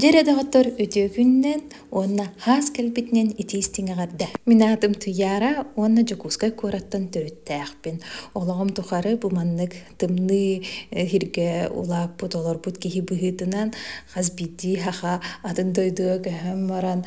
Дьэ эрэ доҕоттор, үтүө күнүнэн уонна хаас кэлбитинэн итии истиҥ эҕэрдэ. Мин аатым Туйаара уонна Дьокуускай куораттан төрүттээхпин. Олоҕум тухары бу маннык тымныы э, иһиргэ улааппыт, олорбут киһи быһыытынан хас биирдии саха атын дойдуга көһөн баран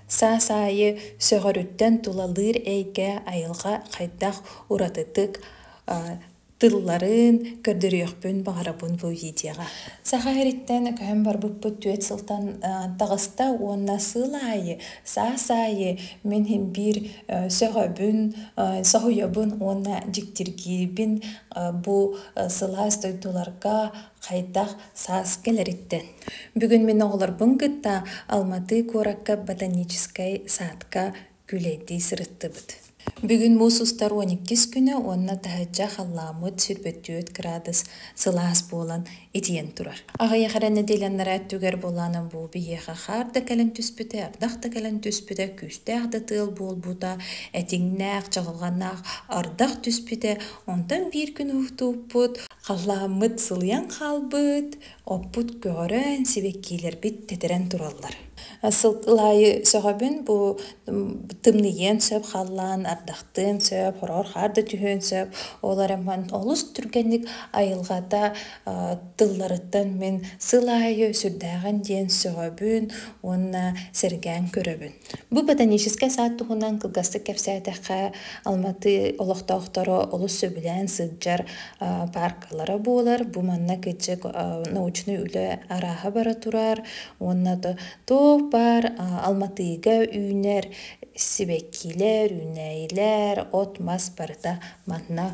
саас аайы сөҕөрүттэн тулалыыр эйгэ, айылҕа хайдах уратытык тылларын көрдөрүөхпүн баҕарабын бу видеоҕа. Саха ириттэн көһөн барбыппыт түөрт сылтан таҕыста уонна сыл аайы, саас аайы мин биир сөҕөбүн, соһуйабын уонна дьиктиргиирбин бу сылаас дойдуларга хайдах саас кэлэриттэн. Бүгүн мин оҕолорбун кытта Алматы куоракка ботаническай саадка Күлэйдии сырыттыбыт. Бүгүн муус устар уон иккис күнэ уонна таһычча халлааммыт сирбит түөрт кыраадыс сылаас буолан, итийэн турар. Аҕыйах эрэ нэдиэлэннэрэ өттүгэр буолаанан бу биһиэхэ хаар да кэлэн түспүтэ, ардах да кэлэн түспүтэ, күүстээх да тыал буолбута, этиҥнээх, чаҕылҕаннаах ардах түспүтэ. Онтон биир күн уһуктубуппут, халлааммыт сылыйан хаалбыт, Оппут көҕөрөн, сибэккиилэрбит тэтэрэн тураллар. Сыл аайы сөҕөбүн бу тымныйыан сөп халлаан, ардахтыан сөп, хороор хаар да түһүөн сөп. Ол эрэн олус түргэнник айылҕата тылларыттан мин сыл аайы сүрдээҕин диэн сөҕөбүн уонна сэргээн көрөбүн. Бу ботаническай саад туһунан кылгастык кэпсээтэххэ, Алматы олохтоохторо олус сөбүлээн сылдьар пааркалара буолар. Бу манна кыччык научнай үлэ арааһа бара турар уонна туох баар Алматыга үүнэр сибэккилэр, үүнээйилэр, от-мас барыта манна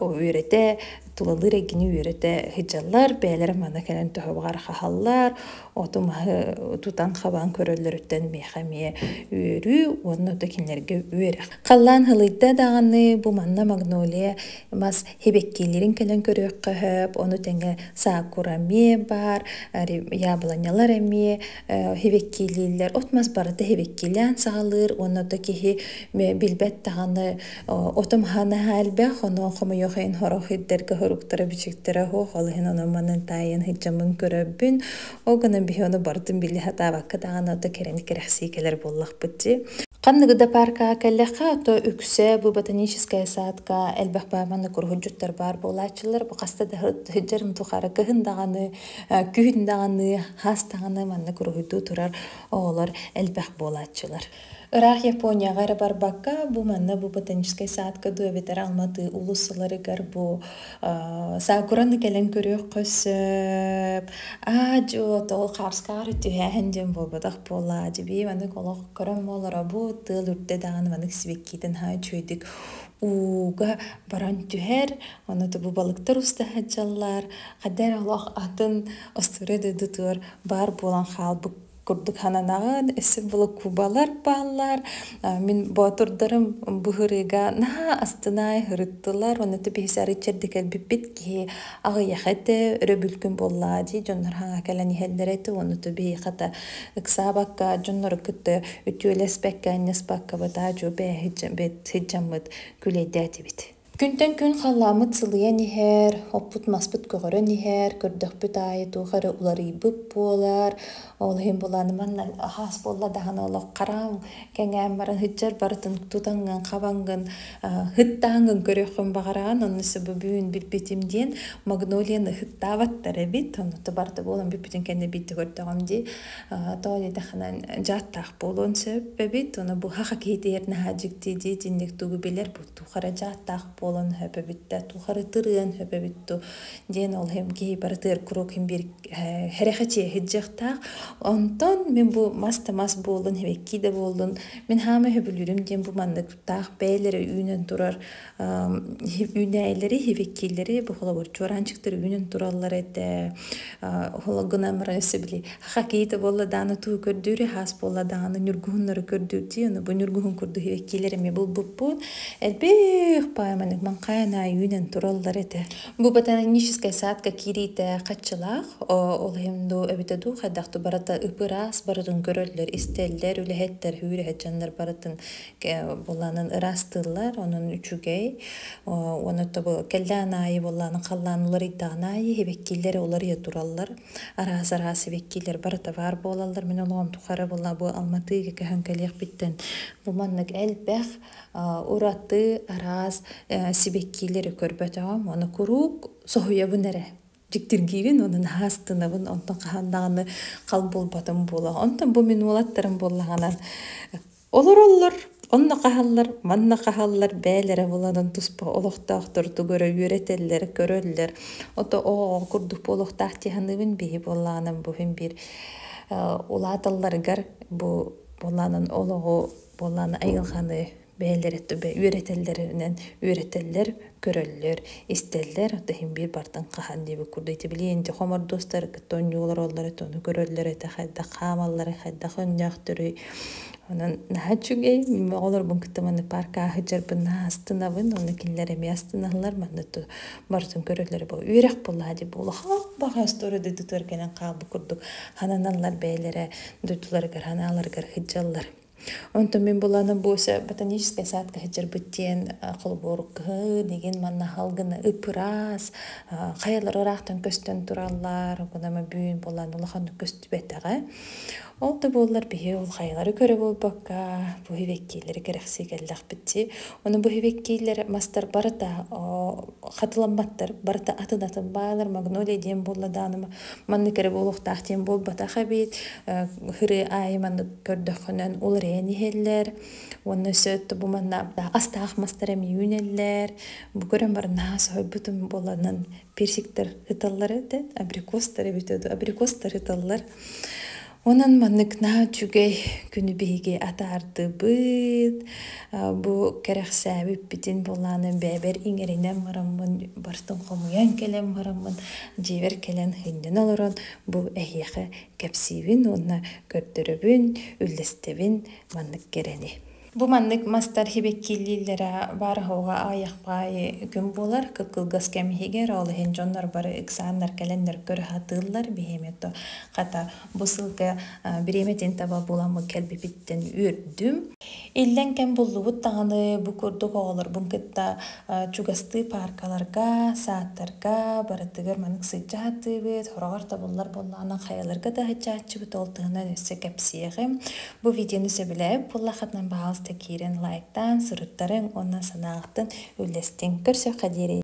үөрэтэ, тулалыыр эйгэни үөрэтэ сылдьаллар, бэйэлэрэ манна кэлэн төһө баҕар хаһаллар, оту-маһы тутан-хабан көрөллөрүттэн миэхэ эмиэ үөрүү уонна ото кинилэргэ үөрэх. Халлаан һылыйда даҕаны бу манна магнолия мас сибэккиэлэрин кэлэн көрүөххэ сөп, ону тэҥэ саакура эмиэ баар, яблонялар эмиэ сибэккиэлииллэр, от-мас барыта сибэккиэлээн саҕалыыр уонна ото киһи билбэт даҕаны отум ханаһа элбэх онон хомойуохайын хорох ирдэргэ хоруктара бичиктэрэ оһох ол иһин ону манан таайын хыджамын көрөбүн ол гынан биһи ону бардын били хатаабакка даҕаны ото кэрэн кэрэхсии кэлэр буоллахпыт дии Ханныгы да паркаҕа кэллэххэ, то үксэ бу ботаническая садка элбэх бааманы куруһуджуттар баар буолааччылар. Бу хаста да хыджарын тухары кыһын даҕаны, күһүн даҕаны, хаас даҕаны манна куруһуйдуу турар оҕолор элбэх буолааччылар. Ыраах Японияҕа эрэ барбакка, бу манна бу ботаническай саадка дуу эбэтэр Алматы улус сыларыгар бу аа саакураны кэлэн көрүөххэ сөп. Аа-дьуо, тоҕо хаарскаары түһээһин диэн буолбатах буоллаа. Дьэбии маннык олох көрөн буолара бу тыал үрдэ даҕаны маннык сибэккиитин һаа үчүгэйдик ууга баран түһэр. Онно бу балыктар уста сылдьаллар. Хаддаа эрэ олох атын остуоруйа дойдутугар баар буолан хаалбыт курдук хананагын өссө волокубалар бааллар мин боотурдарым бу ырыыга наһаа астынай ырыттылар уонна тупиһис арыччырды кэлбиппит киһи аҕыйах этэ өрөбүлкүн буоллаа дии дьоннор хаҥа кэлэн иһэллэр этэ уонна тупиһи хата ыксаабакка дьоннору кытта үтүөлэспэккэ анньыспакка бытаа дьубэ сыдьаммыт күлэйдээтибит Күнтэн күн халлааммыт сылыйан иһэр, оппут-маспыт көҕөрөн иһэр, көрдөхпүт аайы туох эрэ уларыйбыт буолар. Ол иһин булааны манна аһаас буолла даҕаны олох хараҥ кэҥээн баран сыдьар барытын тутаҥҥын, хабаҥҥын, ыһыктааҥҥын көрүөххүн баҕараҕын. Ону сэ бу бүгүн билбитим диэн магнолияны ыһыктаабаттар эбит. Онуота барыта буолан бүппүтүн кэннэ биирдэ көрдөҕүм дии тоҕо диэтэххинэ дьааттаах буолуон сөп эбит. Ону быһа хакетиер наһаа дьикти дии итинник тугу билэр тухары дьааттаах буолан хөпөбүт да тухары тырыан хөпөбүт ту диэн ол киһи бары тыыр курук хин бир херехечи хиджахтаах онтон мен бу мас да мас буоллун хибекки да буоллун мен хаама хөбүлүрүм диэн бу манныктаах бээлери үүнөн турар үүнээлери хибеккилери бу холобур чуораанчыктар үүнөн тураллар этэ хологына мара өсөбүли Хоккейта буолла даҕаны туу көрдүүрү, хаас буолла даҕаны ньургуһуннары көрдүүрдүү, аны бу ньургуһун курдук киилэр эмиэ булбуппут. Элбэх пааманык ман хайан аайы үүнэн тураллар этэ. Бу ботаническай саадка киириитэ хаччылаах, ол иһин дуу эбитэ дуу хайдахты барыта ып-ыраас барытын көрөллөр, истэллэр, үлэһиттэр, үүрүһэт дьоннор барытын буолаанын ыраастыыллар, онон үчүгэй. Уонна тобу кэллээн аайы буолаанын халлаан уларыйдаҕын аайы, хибэккииллэрэ уларыйа тураллар. араас-араас сибэккилэр барыта баар буолаллар. Мин олоҕум тухары була бу Алматыга көһөн кэлиэхпиттэн бу маннык элбэх ураты араас сибэккилэри көрбөтөҕүм. Ону куруук соһуйабын эрэ дьиктиргиибин уонна наһаа астынабын онтон хаһан даҕаны хал булбатым буолуо. Онтон бу мин уолаттарым буоллаҕына Олороллор, онно хааллар, манна хааллар бэйэлэрэ буланан туспа олохтоохтор тугу эрэ үөрэтэллэр, көрөллөр. Ото-оо курдук буолуохтаах дии саныыбын биһи буоллаҕына бу иһин биир улааталларыгар бу буолаанын олоҕу буолааны айылҕаны бэйэлэрэ үөрэтэллэринэн үөрэтэллэр көрөллөр, истэллэр, тыһын биир бартын хаһан диэбит курдук ити билиэн дьэ хомордуостар кытта онньуу олороллор это ону көрөллөр этэ хайдах хаамаллара хайдах өннөөхтөрүй онон наһаа үчүгэй оҕолорбун кытта манны парка аһыдьарбын астынабын оны кинилэр эмиэ астыналлар манна барытын көрөллөрө бу үөрэх буллаа дии буолаха баҕас торо дойдутугар кэлэн хаалбыт курдук хананаллар бэйэлэрэ дойдуларыгар ханааларыгар хыддьаллар Онтон мин буланы Буся ботаническая садка сыдьырбыт диэн холобурук кыһын игин манна халгына ыппыраас хаялар ыраахтан көстөн тураллар гынама бүн булан улаханнык көстүбэтэҕэ. Ол да буоллар биһи ол хайалары көрө буолбакка бу хивеккийлери кэрэхсии кэллэхпитти. Ону бу хивеккийлер мастар барыта хатыламматтар барыта атын атын баалар магнолия диэн буолла дааныма Маннык эрэ буолуохтаах диэн буолбатах эбит. Һырыы аайы маннык көрдөххүнэн уларыйан иһэллэр. Уонна сөп бу маннааптаах астаах мастар эмиэ үүнэллэр. Бу көрөн баран наһаа соһуйбутум буоланан персиктэр ыталлар этэ, абрикостар эбитэ дуу, абрикостар ыталлар. Онон маннык наһаа үчүгэй күнү биһиги атаардыбыт. Бу кэрэхсээбиппитин буолааны бэйэбэр иҥэринэн бараммын, барытын хомуйан кэлэн бараммын, дьиэбэр кэлэн һынньан олорон бу эһиэхэ кэпсиибин уонна көрдөрөбүн, үллэстэбин маннык кэрэни. Бу маннык мастар сибэккиилииллэрэ баар аһылҕа аҕыйах паайы күн буолар кыккылгас кэм иһигэр ол иһин дьоннор бары ыксааннар кэлэннэр көрө сатыыллар биһиэмэтэ хата бу сылга бириэмэтин таба буламмыт кэлбипиттэн үөрдүм иллэҥ кэм буллубут даҕаны бу курдук оҕолорбун кытта чугастыы пааркаларга саадтарга барытыгар манык сылдьа сатыыбыт сороҕор табыллар буоллаҕына хайаларга да сылдьааччыбыт ол туһунан өссө кэпсиэҕим Бу видеону сөбүлээн буоллаххытына, баҕаласта киирэн лайктаан, суруттарыҥ уонна санаалартан үллэстиҥ. Көрсүөххэ диэри